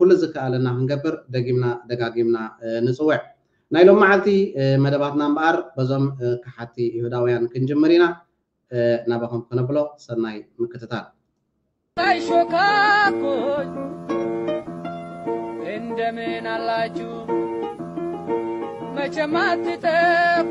ኩሉ ዝከኣለና ክንገብር ደጊምና ደጋጊምና ንጽውዕ። ናይ ሎምዓልቲ መደባትና እምበኣር በዞም ከሓድቲ ይሁዳውያን ክንጅምር ኢና። ናባኹም ከነብሎ ሰናይ ምክትታል። ታይ ሾካኮች እንደምን አላችሁ መቼም አትጠፉ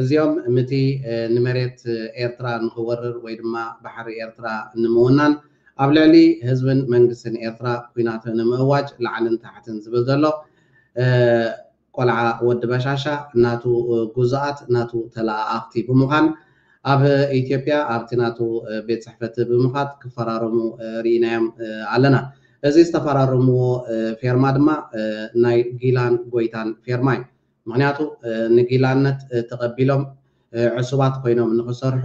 እዚኦም ምቲ ንመሬት ኤርትራ ንኽወርር ወይ ድማ ባሕሪ ኤርትራ ንምውናን ኣብ ልዕሊ ህዝብን መንግስትን ኤርትራ ኩናት ንምእዋጅ ላዕልን ታሕትን ዝብል ዘሎ ቆልዓ ወዲ በሻሻ ናቱ ጉዙኣት ናቱ ተለኣኣኽቲ ብምዃን ኣብ ኢትዮጵያ ኣብቲ ናቱ ቤት ጽሕፈት ብምኻድ ክፈራረሙ ርኢናዮም ኣለና። እዚ ዝተፈራረምዎ ፌርማ ድማ ናይ ጊላን ጎይታን ፌርማ እዩ። ምኽንያቱ ንጊላነት ተቐቢሎም ዕሱባት ኮይኖም ንኽሰርሑ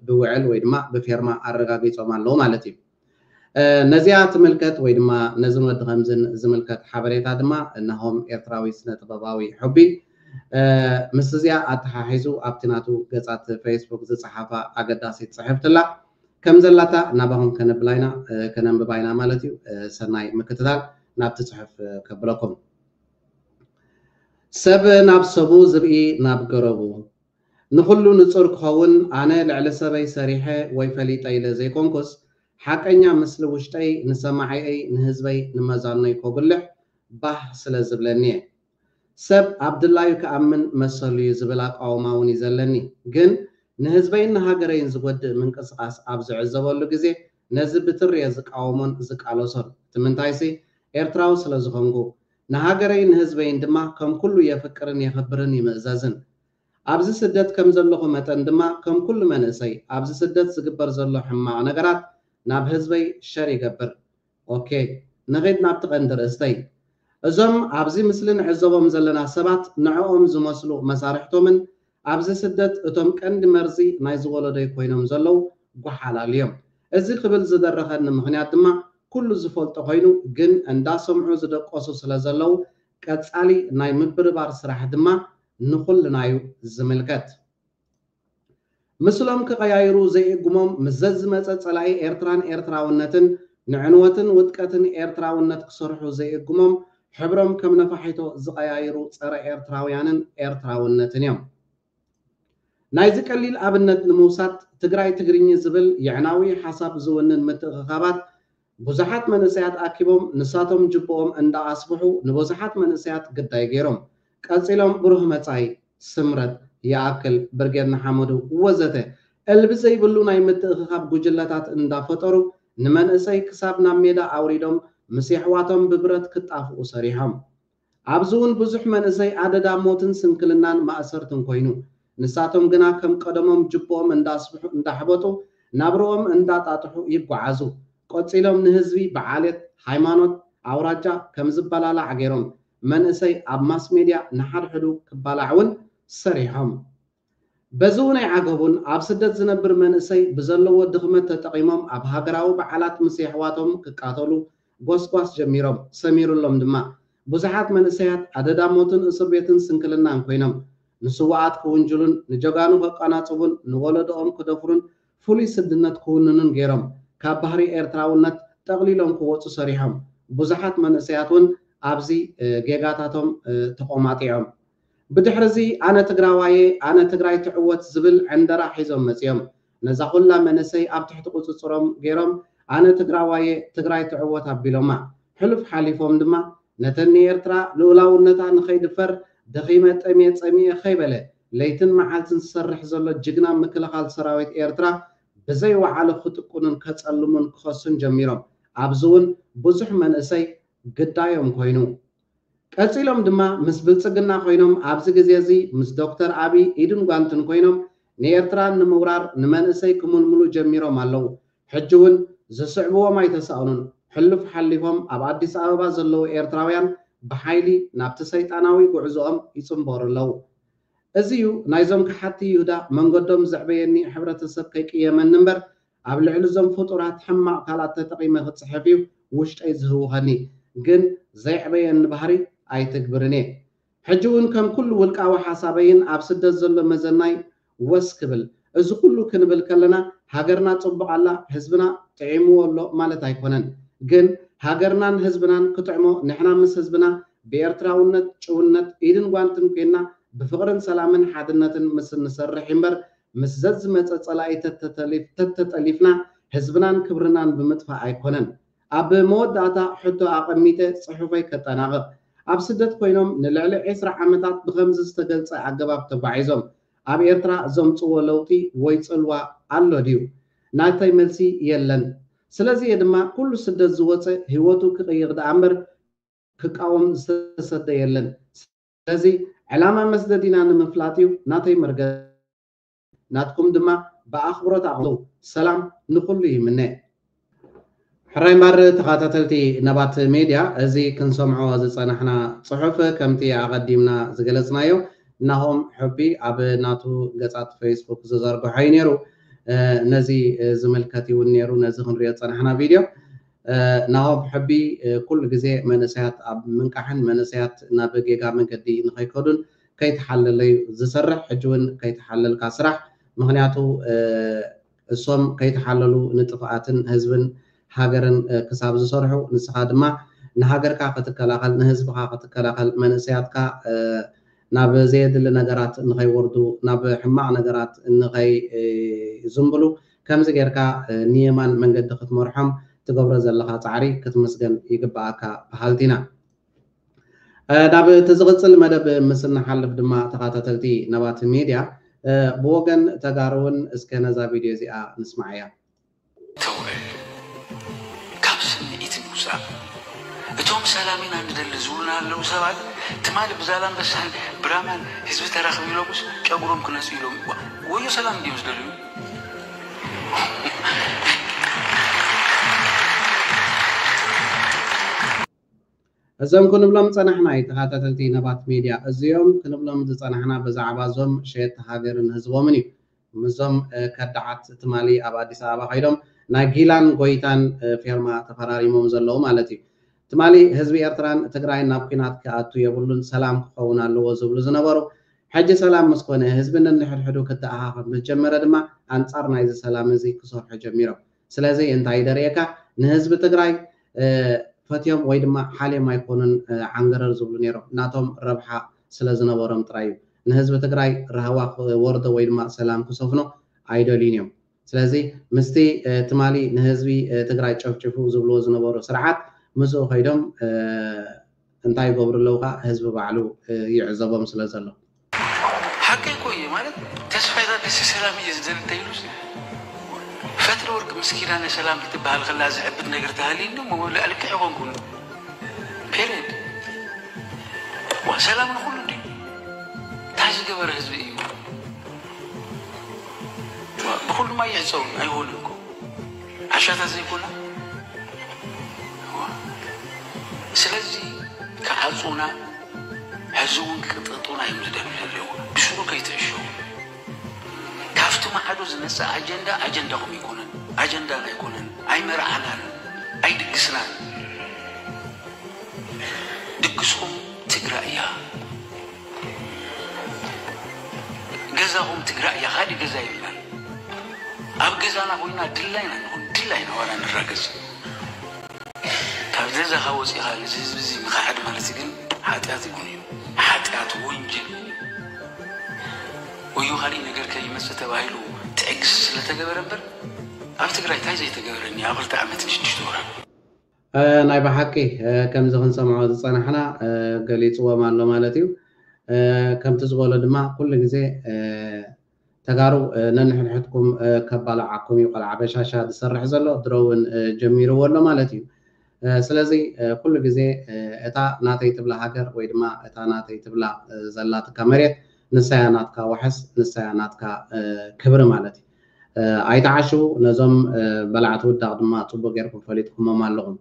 ብውዕል ወይ ድማ ብፌርማ ኣረጋጊጾም ኣለዉ ማለት እዩ። ነዚኣ ትምልከት ወይ ድማ ነዝን ወዲ ከምዝን ዝምልከት ሓበሬታ ድማ ናሆም ኤርትራዊ ስነ ጥበባዊ ሑቢ ምስ እዚኣ ኣተሓሒዙ ኣብቲ ናቱ ገጻት ፈይስቡክ ዝጸሓፋ ኣገዳሲት ጽሕፍቲ ኣላ። ከም ዘላታ ናባኹም ከነብላ ኢና፣ ከነንብባ ኢና ማለት እዩ። ሰናይ ምክትታል ናብቲ ጽሑፍ ከብለኩም። ሰብ ናብ ሰቡ ዝርኢ ናብ ገረቡ። ንኹሉ ንጹር ክኸውን ኣነ ልዕሊ ሰበይ ሰሪሐ ወይ ፈሊጠ ኢለ ዘይኮንኩስ፣ ሓቀኛ ምስሊ ውሽጠይ ንሰማዒየይ ንህዝበይ ንመዛኖይ ኮጉልሕ ባህ ስለ ዝብለኒየ። ሰብ ኣብ ድላዩ ክኣምን መሰሉዩ ዝብል ኣቋውማውን እዩ ዘለኒ። ግን ንህዝበይን ንሃገረይን ዝጎድእ ምንቅስቓስ ኣብ ዝዕዘበሉ ግዜ ነዚ ብትሪ'የ ዝቃወሞን ዝቃለሶን። እቲ ምንታይሲ፣ ኤርትራዊ ስለ ዝኾንኩ። ንሃገረይን ንህዝበይን ድማ ከም ኩሉ የፍቅርን የኽብርን ይምእዘዝን። ኣብዚ ስደት ከም ዘለኹ መጠን ድማ ከም ኩሉ መንእሰይ፣ ኣብዚ ስደት ዝግበር ዘሎ ሕማቕ ነገራት ናብ ህዝበይ ሸር ይገብር። ኦኬ። ንኺድ ናብቲ ቀንዲ ርእስተይ። እዞም ኣብዚ ምስሊ ንዕዘቦም ዘለና ሰባት ንዕኦም ዝመስሉ መሳርሕቶምን ኣብዚ ስደት እቶም ቀንዲ መርዚ ናይዚ ወለዶይ ኮይኖም ዘለዉ ጎሓላሉ እዮም። እዚ ክብል ዝደረኸኒ ምኽንያት ድማ ኩሉ ዝፈልጦ ኮይኑ ግን እንዳሰምዑ ዝደቆሱ ስለ ዘለዉ ቀጻሊ ናይ ምብርባር ስራሕ ድማ ንኹልና እዩ ዝምልከት። ምስሎም ክቐያይሩ ዘይእግሞም ምስ ዘዝመጸ ጸላኢ ኤርትራን ኤርትራውነትን ንዕንወትን ውድቀትን ኤርትራውነት ክሰርሑ ዘይእግሞም ሕብሮም ከም ነፋሒቶ ዝቐያይሩ ጸረ ኤርትራውያንን ኤርትራውነትን እዮም። ናይዚ ቀሊል ኣብነት ንምውሳድ ትግራይ ትግርኚ ዝብል የዕናዊ ሓሳብ ዝውንን ምትእኽኻባት ብዙሓት መንእሰያት ኣኪቦም ንሳቶም ጅብኦም እንዳኣስፍሑ ንበዙሓት መንእሰያት ግዳይ ገይሮም ቀጺሎም ብሩህ መጻኢ፣ ስምረት፣ ይኣክል፣ ብርጌድ ንሓመዱ ወዘተ እልቢ ዘይብሉ ናይ ምትእኽኻብ ጉጅለታት እንዳፈጠሩ ንመንእሰይ ክሳብ ናብ ሜዳ ኣውሪዶም ምስ የሕዋቶም ብብረት ክጣፍኡ ሰሪሖም። ኣብዚ ውን ብዙሕ መንእሰይ ኣደዳ ሞትን ስንክልናን ማእሰርትን ኮይኑ። ንሳቶም ግና ከም ቀደሞም ጅብኦም እንዳስፍሑ እንዳሕበጡ ናብርኦም እንዳጣጥሑ ይጓዓዙ። ቆጺሎም ንህዝቢ ብዓሌት፣ ሃይማኖት፣ ኣውራጃ ከም ዝበላላዕ ገይሮም መንእሰይ ኣብ ማስሜድያ ንሓድሕዱ ክባላዕ ውን ሰሪሖም። በዚ ውን ኣይዓገቡን ኣብ ስደት ዝነብር መንእሰይ ብዘለዎ ድኽመት ተጠቒሞም ኣብ ሃገራዊ በዓላት ምስ የሕዋቶም ክቃተሉ ጎስጓስ ጀሚሮም። ሰሚሩሎም ድማ። ብዙሓት መንእሰያት ኣደዳ ሞትን እሱርቤትን ስንክልናን ኮይኖም። ንስዉኣት ክውንጅሉን ንጀጋኑ ከቃናጽቡን ንወለዶኦም ክደፍሩን ፍሉይ ስድነት ክውንኑን ገይሮም ካብ ባህሪ ኤርትራውነት ጠቕሊሎም ክወጹ ሰሪሖም። ብዙሓት መንእሰያት ውን ኣብዚ ጌጋታቶም ተቖማጢዖም። ብድሕሪዚ ኣነ ትግራዋየ ኣነ ትግራይ ትዕወት ዝብል ዕንደራ ሒዞም መጺኦም። ነዛ ኩላ መንእሰይ ኣብ ትሕቲ ቁጽጽሮም ገይሮም ኣነ ትግራዋየ ትግራይ ትዕወት ኣቢሎማ። ሕሉፍ ሓሊፎም ድማ ነተን ንኤርትራ ልኡላውነታ ንኸይድፈር ደኺመ ጠምየ ጸሚኤ ከይበለ ለይትን መዓልትን ዝሰርሕ ዘሎ ጅግና ምክልኻል ሰራዊት ኤርትራ ብዘይ ወዓሉ ክጥቁኑን ከጸልሙን ክኸሱን ጀሚሮም ኣብዚ ውን ብዙሕ መንእሰይ ግዳዮም ኮይኑ ቀጺሎም ድማ ምስ ብልጽግና ኮይኖም ኣብዚ ግዜ እዚ ምስ ዶክተር ኣቢይ ኢድን ጓንትን ኮይኖም ንኤርትራ ንምውራር ንመንእሰይ ክምልምሉ ጀሚሮም ኣለዉ ሕጂ ውን ዝስዕብዎም ኣይተሳእኑን፣ ሕሉፍ ሓሊፎም ኣብ ኣዲስ ኣበባ ዘለዉ ኤርትራውያን ብሓይሊ ናብቲ ሰይጣናዊ ጉዕዞኦም ይጽንበሩ ኣለዉ። እዚ ዩ ናይዞም ከሓድቲ ይሁዳ መንገዶም ዘዕበየኒ ሕብረተሰብ ከይቅየመኒ እምበር ኣብ ልዕሊ ዞም ፍጡራት ሕማቅ ቃላት ተጠቂመ ክጽሕፍ ዩ ውሽጠይ ዝህውኸኒ ግን ዘየዕበየኒ ባህሪ ኣይትግብርን እየ ሕጂ ውን ከም ኩሉ ውልቃዊ ሓሳበይን ኣብ ስደት ዘሎ መዘናይ ወስ ክብል። እዚ ኩሉ ክንብል ከለና ሃገርና ጽቡቕ ኣላ ህዝብና ጥዒምዎ ኣሎ ማለት ኣይኮነን። ግን ሃገርናን ህዝብናን ክጥዕሞ ንሕና ምስ ህዝብና ብኤርትራውነት ጭውነት ኢድን ጓንትን ኮይንና ብፍቕርን ሰላምን ሓድነትን ምስ እንሰርሕ እዩ እምበር ምስ ዘዝመጸ ጸላኢ ተተተሊፍ ተተጠሊፍና ህዝብናን ክብርናን ብምጥፋእ ኣይኮነን። ኣብ መወዳእታ ሕቶ ኣቐሚጠ ጽሑፈይ ከጠናቕቕ። ኣብ ስደት ኮይኖም ንልዕሊ ዕስራ ዓመታት ብኸምዚ ዝተገልጸ ኣገባብ ተጓዒዞም ኣብ ኤርትራ ዘምጽዎ ለውጢ ወይ ጽልዋ ኣሎ ድዩ? ናተይ መልሲ የለን። ስለዚ እየ ድማ ኩሉ ስደት ዝወጸ ህይወቱ ክቕይር ደኣ እምበር ክቃወም ዝተሰደ የለን። ስለዚ ዕላማ መስደዲና ንምፍላጥ እዩ ናተይ መርገጺ። ናትኩም ድማ ብኣኽብሮት ኣቕርቡ። ሰላም ንኹሉ ይምነ። ሕራይ እምበር ተኻታተልቲ ነባት ሜድያ እዚ ክንሰምዖ ዝጸናሕና ጽሑፍ ከምቲ ኣቐዲምና ዝገለጽናዮ ናሆም ሑቢ ኣብ ናቱ ገጻት ፈይስቡክ ዝዘርግሖ እዩ ኔሩ ነዚ ዝምልከት እዩውን ኔሩ ነዚ ክንሪኦ ዝጸናሕና ቪድዮ ናሆም ሑቢ ኩሉ ግዜ መንእሰያት ኣብ ምንቃሕን መንእሰያት ናብ ጌጋ መንገዲ ንኸይከዱን ከይተሓለለ ዩ ዝሰርሕ ሕጂ ውን ከይተሓለልካ ስራሕ ምክንያቱ እሶም ከይተሓለሉ ንጥፍኣትን ህዝብን ሃገርን ክሳብ ዝሰርሑ ንስካ ድማ ንሃገርካ ክትከላከል ንህዝብካ ክትከላከል መንእሰያትካ ናብ ዘየድሊ ነገራት ንከይወርዱ ናብ ሕማቅ ነገራት ንከይዝንብሉ ከምዚ ጌርካ ንየማን መንገዲ ክትመርሖም ትገብሮ ዘለካ ጻዕሪ ክትምስገን ይግበኣካ በሃልቲ ኢና። ናብ እቲ ዝቕፅል መደብ ምስ እንሓልፍ ድማ ተኻታተልቲ ነባቲ ሚድያ ብወገን ተጋሩ እውን እስከ ነዛ ቪድዮ እዚኣ ንስማዓያ። ተውዕል ካብ ስምዒት ምውፃእ እቶም ሰላም ኢና ንደሊ ዝብሉና ዘለው ሰባት ትማሊ ብዛላምበሳን ብራማን ህዝቢ ተራኽቡ ኢሎምስ ጨጉሮም ክነፅዩ ኢሎም እዩዋ ወዮ ሰላም እንድዮም ዝደልዩ እዞም ክንብሎም ዝጸናሕና ዩ ተኻታተልቲ ነባት ሜድያ እዚኦም ክንብሎም ዝጸናሕና ብዛዕባ እዞም ሸየጥቲ ሃገርን ህዝቦምን ዩ ምስዞም ከዳዓት ትማሊ ኣብ ኣዲስ ኣበባ ከይዶም ናይ ጊላን ጎይታን ፌርማ ተፈራሪሞም ዘለዉ ማለት ዩ ትማሊ ህዝቢ ኤርትራን ትግራይን ናብ ኩናት ክኣቱ የብሉን ሰላም ክኸውን ኣለዎ ዝብሉ ዝነበሩ ሕጂ ሰላም ምስ ኮነ ህዝቢ ነንሕድሕዱ ክተኣኻኸብ ምስ ጀመረ ድማ ኣንጻር ናይዚ ሰላም እዚ ክሰርሑ ጀሚሮም ስለዚ እንታይ እዩ ደርእየካ ንህዝቢ ትግራይ ፈትዮም ወይ ድማ ሓልዮም ኣይኮኑን ዓንገረር ዝብሉ ነይሮም ናቶም ረብሓ ስለ ዝነበሮም ጥራይ እዩ ንህዝቢ ትግራይ ራህዋ ክወርዶ ወይ ድማ ሰላም ክሰፍኖ ኣይደልዩን እዮም ስለዚ ምስቲ ትማሊ ንህዝቢ ትግራይ ጨፍጭፉ ዝብልዎ ዝነበሩ ስርዓት ምስኡ ከይዶም እንታይ ይገብሩ ኣለው ከኣ ህዝቢ ባዕሉ ይዕዘቦም ስለ ዘሎ። ሓቀይ እኮ እየ ማለት ተስፋይ ታደሰ ሰላም እየ ዝደሊ እንተይሉስ ፈትለወርቅ ምስ ኪዳነ ሰላም ክትበሃል ከላ ዝዕብድ ነገር ተሃልዩኒ እሞ ልክዕ ይኾንኩን ፔሬድ ዋ ሰላም ንኹሉ እንዲ እንታይ ዝገበረ ህዝቢ እዩ ብኩሉማ ይዕፀው ኣይሆንም እኮ ዓሻ ተዘይኮና ስለዚ ክዓጹና ሕዚ ውን ክቅጥቅጡና እዮም ዝደልዩ ዘለዉ ብስሩ ከይትዕሸዉ ካፍቲ ማዕዶ ዝመጽእ ኣጀንዳ ኣጀንዳኹም ኣይኮነን ኣጀንዳና ኣይኮነን ኣይመርዓናን ኣይድግስናን ድግስኹም ትግራይ እያ። ገዛኹም ትግራይ እያ ካሊእ ገዛ የልናን ኣብ ገዛና ኮይና ድላይ ኢና ንኹን ድላይ ኢና ዋላ ንራገፅ ካብ ገዛኻ ወፂእኻ ነዚ ህዝቢ እዚ ምኽሓድ ማለት ግን ሓጢኣት ይኹን እዩ ሓጢኣት ወንጀል ወዮ ካሊእ ነገር ከይመፅእ ተባሂሉ ትዕግስቲ ስለተገበረ እምበር ኣብ ትግራይ እንታይ ዘይተገበረ እኒሀ ኣብ ክልተ ዓመትን ሽዱሽተ ወራን ናይ ብሓቂ ከምዚ ክንሰምዖ ዝጸናሕና ገሊጽዎም ኣሎ ማለት እዩ። ከምቲ ዝበሎ ድማ ኩሉ ግዜ ተጋሩ ነንሕድሕድኩም ከባላዓኩም እዩ ቆልዓ በሻሻ ዝሰርሕ ዘሎ ድሮ ውን ጀሚርዎ ኣሎ ማለት እዩ። ስለዚ ኩሉ ግዜ እታ ናተይ ትብላ ሃገር ወይ ድማ እታ ናተይ ትብላ ዘላትካ መሬት ንሳ እያ ናትካ ዋሕስ ንሳ እያ ናትካ ክብሪ ማለት እዩ። ኣይትዓሹ ነዞም በላዕቲ ውዳቕ ድማ ጽቡቕ ጌርኩም ፈሊጥኩሞም ኣለኹም።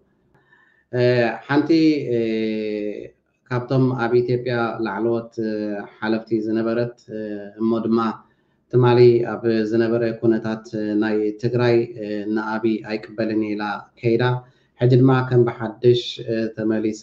ሓንቲ ካብቶም ኣብ ኢትዮጵያ ላዕለዎት ሓለፍቲ ዝነበረት እሞ ድማ ትማሊ ኣብ ዝነበረ ኩነታት ናይ ትግራይ ንኣብይ ኣይቅበልን እየ ኢላ ከይዳ ሕጂ ድማ ከም ብሓድሽ ተመሊሳ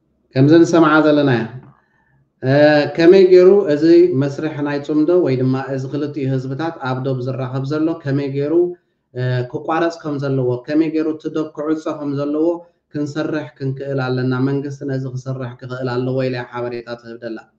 ከምዚ ንሰምዓ ዘለና እያ። ከመይ ገይሩ እዚ መስርሕ ናይ ጽምዶ ወይ ድማ እዚ ክልቲኡ ህዝብታት ኣብ ዶብ ዝራኸብ ዘሎ ከመይ ገይሩ ክቋረጽ ከም ዘለዎ፣ ከመይ ገይሩ እቲ ዶብ ክዕጾ ከም ዘለዎ ክንሰርሕ ክንክእል ኣለና። መንግስቲ ነዚ ክሰርሕ ክኽእል ኣለዎ ኢላ እያ ሓበሬታ ትህብ ዘላ።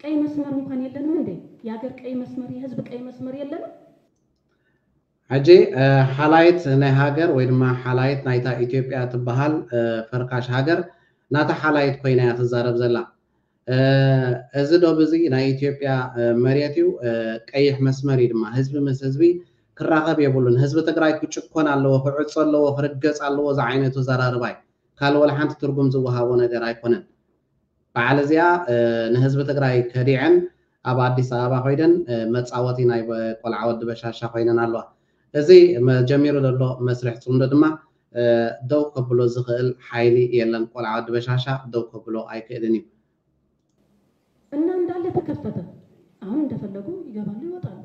ቀይ መስመር እንኳን የለንም እንዴ ያገር ቀይ መስመር የህዝብ ቀይ መስመር የለንም። ሕጂ ሓላይት ናይ ሃገር ወይ ድማ ሓላይት ናይታ ኢትዮጵያ ትበሃል ፈርካሽ ሃገር ናታ ሓላይት ኮይና እያ ትዛረብ ዘላ። እዚ ዶብ እዚ ናይ ኢትዮጵያ መሬት እዩ ቀይሕ መስመር እዩ ድማ። ህዝቢ ምስ ህዝቢ ክራኸብ የብሉን። ህዝቢ ትግራይ ክጭኮን ኣለዎ፣ ክዕጾ ኣለዎ፣ ክርገጽ ኣለዎ ዝዓይነቱ ኣዘራርባ እዩ። ካልእ ወላ ሓንቲ ትርጉም ዝወሃቦ ነገር ኣይኮነን። በዓል እዚኣ ንህዝቢ ትግራይ ከዲዐን ኣብ ኣዲስ ኣበባ ኮይደን መፃወቲ ናይ ቆልዓ ወዲ በሻሻ ኮይነን ኣለዋ። እዚ ጀሚሩ ዘሎ መስርሕ ፅምዶ ድማ ደው ከብሎ ዝኽእል ሓይሊ የለን። ቆልዓ ወዲ በሻሻ ደው ከብሎ ኣይክእልን እዩ። እና እንዳለ ተከፈተ አሁን እንደፈለጉ ይገባሉ ይወጣሉ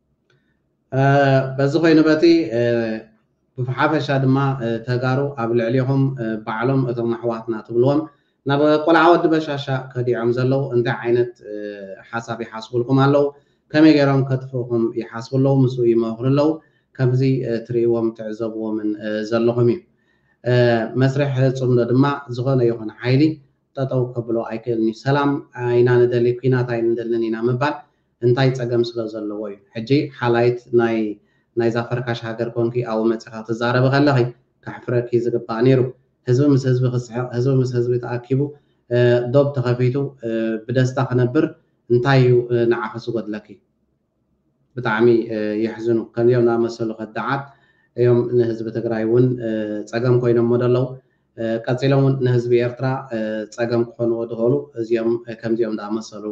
በዚ ኮይኑ በቲ ብሓፈሻ ድማ ተጋሩ ኣብ ልዕሊኹም ባዕሎም እቶም ኣሕዋትና ትብልዎም ናብ ቆልዓ ወዲ በሻሻ ከዲዖም ዘለው እንታይ ዓይነት ሓሳብ ይሓስቡልኩም ኣለው ከመይ ገይሮም ከጥፍኡኹም ይሓስቡ ኣለው ምስኡ ይመኽሩ ኣለው ከምዚ ትርእይዎም ትዕዘብዎምን ዘለኹም እዩ መስርሕ ፅምዶ ድማ ዝኾነ ይኹን ሓይሊ ጠጠው ከብሎ ኣይክእልን እዩ ሰላም ኢና ንደሊ ኩናት ኣይንደልን ኢና ምባል እንታይ ጸገም ስለ ዘለዎ እዩ ሕጂ ሓላይት ናይ ናይዛ ፈርካሽ ሃገር ኮንኪ ኣዉ መጺኻ ትዛረቢ ከለኺ ከሕፍረኪ ዝግባእ ኔሩ ህዝቢ ምስ ህዝቢ ክስሕቅ ህዝቢ ምስ ህዝቢ ተኣኪቡ ዶብ ተኸፊቱ ብደስታ ክነብር እንታይ እዩ ንዓኺ ዝጎድለኪ ብጣዕሚ የሕዝኑ ከምዚኦም ዝኣመሰሉ ከዳዓት እዮም ንህዝቢ ትግራይ እዉን ጸገም ኮይኖሞ ዘለዉ ቀጺሎም ውን ንህዝቢ ኤርትራ ጸገም ክኾንዎ ድኽእሉ እዚኦም ከምዚኦም ድኣመሰሉ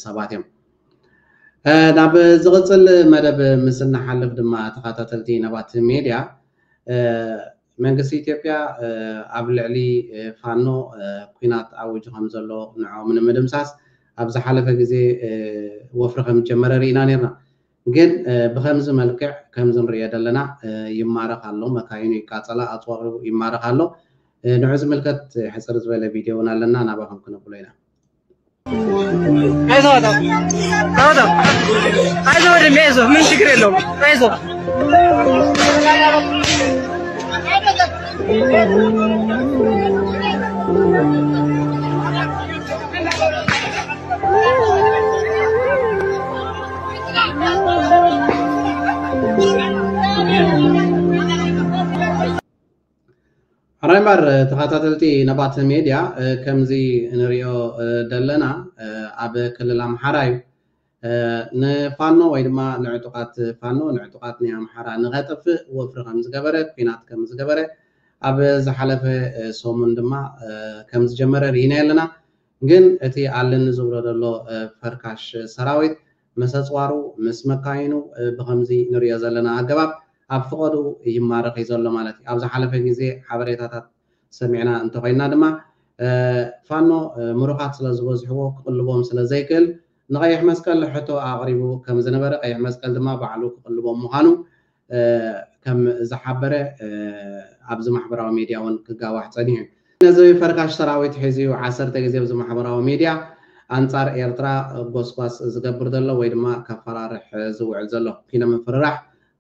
ሰባት እዮም። ናብ ዝቕጽል መደብ ምስ እንሓልፍ ድማ ተኻታተልቲ ነባት ሜድያ መንግስቲ ኢትዮጵያ ኣብ ልዕሊ ፋኖ ኩናት ኣዊጁ ከም ዘሎ ንዕኦም ንምድምሳስ ኣብ ዝሓለፈ ግዜ ወፍሪ ከም ዝጀመረ ርኢና ኔርና። ግን ብከምዚ መልክዕ ከምዚ ንርእዮ ዘለና ይማረክ ኣሎ መካይኑ ይቃጸላ ኣጽዋሩ ይማረክ ኣሎ ንዑ ዝምልከት ሕጽር ዝበለ ቪድዮ ውን ኣለና ናባኩም ክነብሎ ኢና። አይዞህ በጣም በጣም አይዞህ ወንድሜ አይዞህ፣ ምን ችግር የለውም አይዞህ። ሕራይ እምበር ተኸታተልቲ ነባት ሜድያ ከምዚ ንሪኦ ዘለና ኣብ ክልል ኣምሓራ እዩ ንፋኖ ወይ ድማ ንዕጡቓት ፋኖ ንዕጡቓት ናይ ኣምሓራ ንኸጥፍእ ወፍሪ ከም ዝገበረ ኩናት ከም ዝገበረ ኣብ ዝሓለፈ ሰሙን ድማ ከም ዝጀመረ ርኢና ኣለና ግን እቲ ኣለኒ ዝብሎ ዘሎ ፈርካሽ ሰራዊት ምስ ኣጽዋሩ ምስ መካይኑ ብኸምዚ ንርእዮ ዘለና ኣገባብ ኣብ ፍቐድኡ ይማረኽ እዩ ዘሎ ማለት እዩ። ኣብ ዝሓለፈ ግዜ ሓበሬታታት ሰሚዕና እንተኾይንና ድማ ፋኖ ምሩኻት ስለ ዝበዝሕዎ ክቕልቦም ስለ ዘይክእል ንቐይሕ መስቀል ሕቶ ኣቕሪቡ ከም ዝነበረ ቀይሕ መስቀል ድማ ባዕሉ ክቕልቦም ምዃኑ ከም ዝሓበረ ኣብዚ ማሕበራዊ ሜድያ እውን ክጋዋሕ ፀኒሑ እዩ። ነዚ ፈርካሽ ሰራዊት ሒዙ እዩ ዓሰርተ ግዜ ኣብዚ ማሕበራዊ ሜድያ ኣንፃር ኤርትራ ጎስጓስ ዝገብር ዘሎ ወይ ድማ ከፈራርሕ ዝውዕል ዘሎ። ኪኖ ምፍርራሕ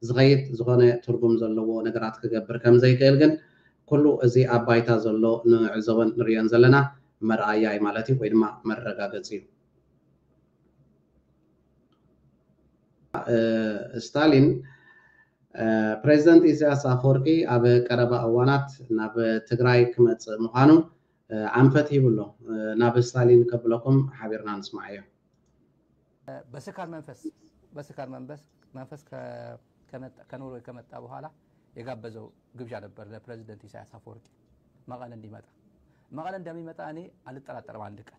ዝኸይድ ዝኾነ ትርጉም ዘለዎ ነገራት ክገብር ከም ዘይክእል ግን ኩሉ እዚ ኣብ ባይታ ዘሎ ንዕዘቦን ንርእዮን ዘለና መርኣያ እዩ ማለት እዩ ወይ ድማ መረጋገፂ እዩ። ስታሊን ፕሬዚደንት ኢሳያስ ኣፈወርቂ ኣብ ቀረባ እዋናት ናብ ትግራይ ክመፅእ ምዃኑ ኣንፈት ሂቡ ኣሎ። ናብ ስታሊን ከብለኩም ሓቢርና ንስማዓዮ። በስካር መንፈስ በስካር መንፈስ መንፈስ ከኖርዌይ ከመጣ በኋላ የጋበዘው ግብዣ ነበር ለፕሬዚደንት ኢሳያስ አፈወርቂ መቀለ እንዲመጣ መቀለ እንደሚመጣ እኔ አልጠራጠርም አንድ ቀን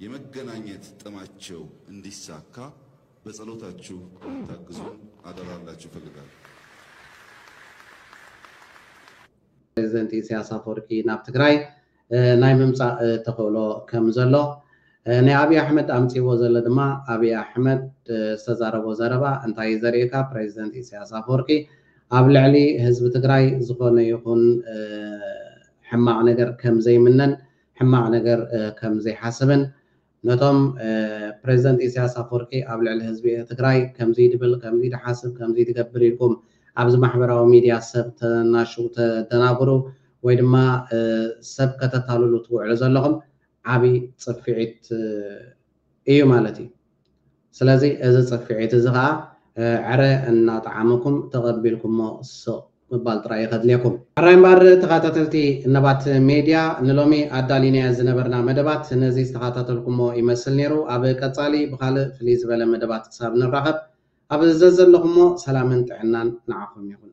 የመገናኘት ጥማቸው እንዲሳካ በጸሎታችሁ እንድታግዙን አደራ ልላችሁ እፈልጋለሁ። ፕሬዚደንት ኢሳያስ ኣፈወርቂ ናብ ትግራይ ናይ ምምፃእ ተኽእሎ ከም ዘሎ ናይ ኣብይ ኣሕመድ ኣምፂዎ ዘሎ ድማ ኣብይ ኣሕመድ ዝተዛረቦ ዘረባ እንታይ እዩ ዘርእየካ ፕሬዚደንት ኢሳያስ ኣፈወርቂ ኣብ ልዕሊ ህዝቢ ትግራይ ዝኾነ ይኹን ሕማቕ ነገር ከም ዘይምነን ሕማቕ ነገር ከም ዘይሓስብን ነቶም ፕረዚደንት ኢሳያስ ኣፍወርቂ ኣብ ልዕሊ ህዝቢ ትግራይ ከምዚ ድብል ከምዚ ድሓስብ ከምዚ ድገብር ኢልኩም ኣብዚ ማሕበራዊ ሚድያ ሰብ ተናሽው ተደናግሩ ወይ ድማ ሰብ ከተታልሉ ትውዕሉ ዘለኹም ዓቢ ጽፊዒት እዩ ማለት እዩ። ስለዚ እዚ ጽፍዒት እዚ ከኣ ዕረ እናጠዓመኩም ተቐቢልኩሞ ስቕ ምባል ጥራይ እዩ ከድልየኩም። ሕራይ እምበኣር ተኻታተልቲ ነባት ሜድያ ንሎሚ ኣዳሊናዮ ዝነበርና መደባት ነዚ ዝተኻታተልኩሞ ይመስል ነይሩ። ኣብ ቀጻሊ ብኻልእ ፍልይ ዝበለ መደባት ክሳብ ንራኸብ ኣብ ዘዘለኹሞ ሰላምን ጥዕናን ንዓኹም ይኹን።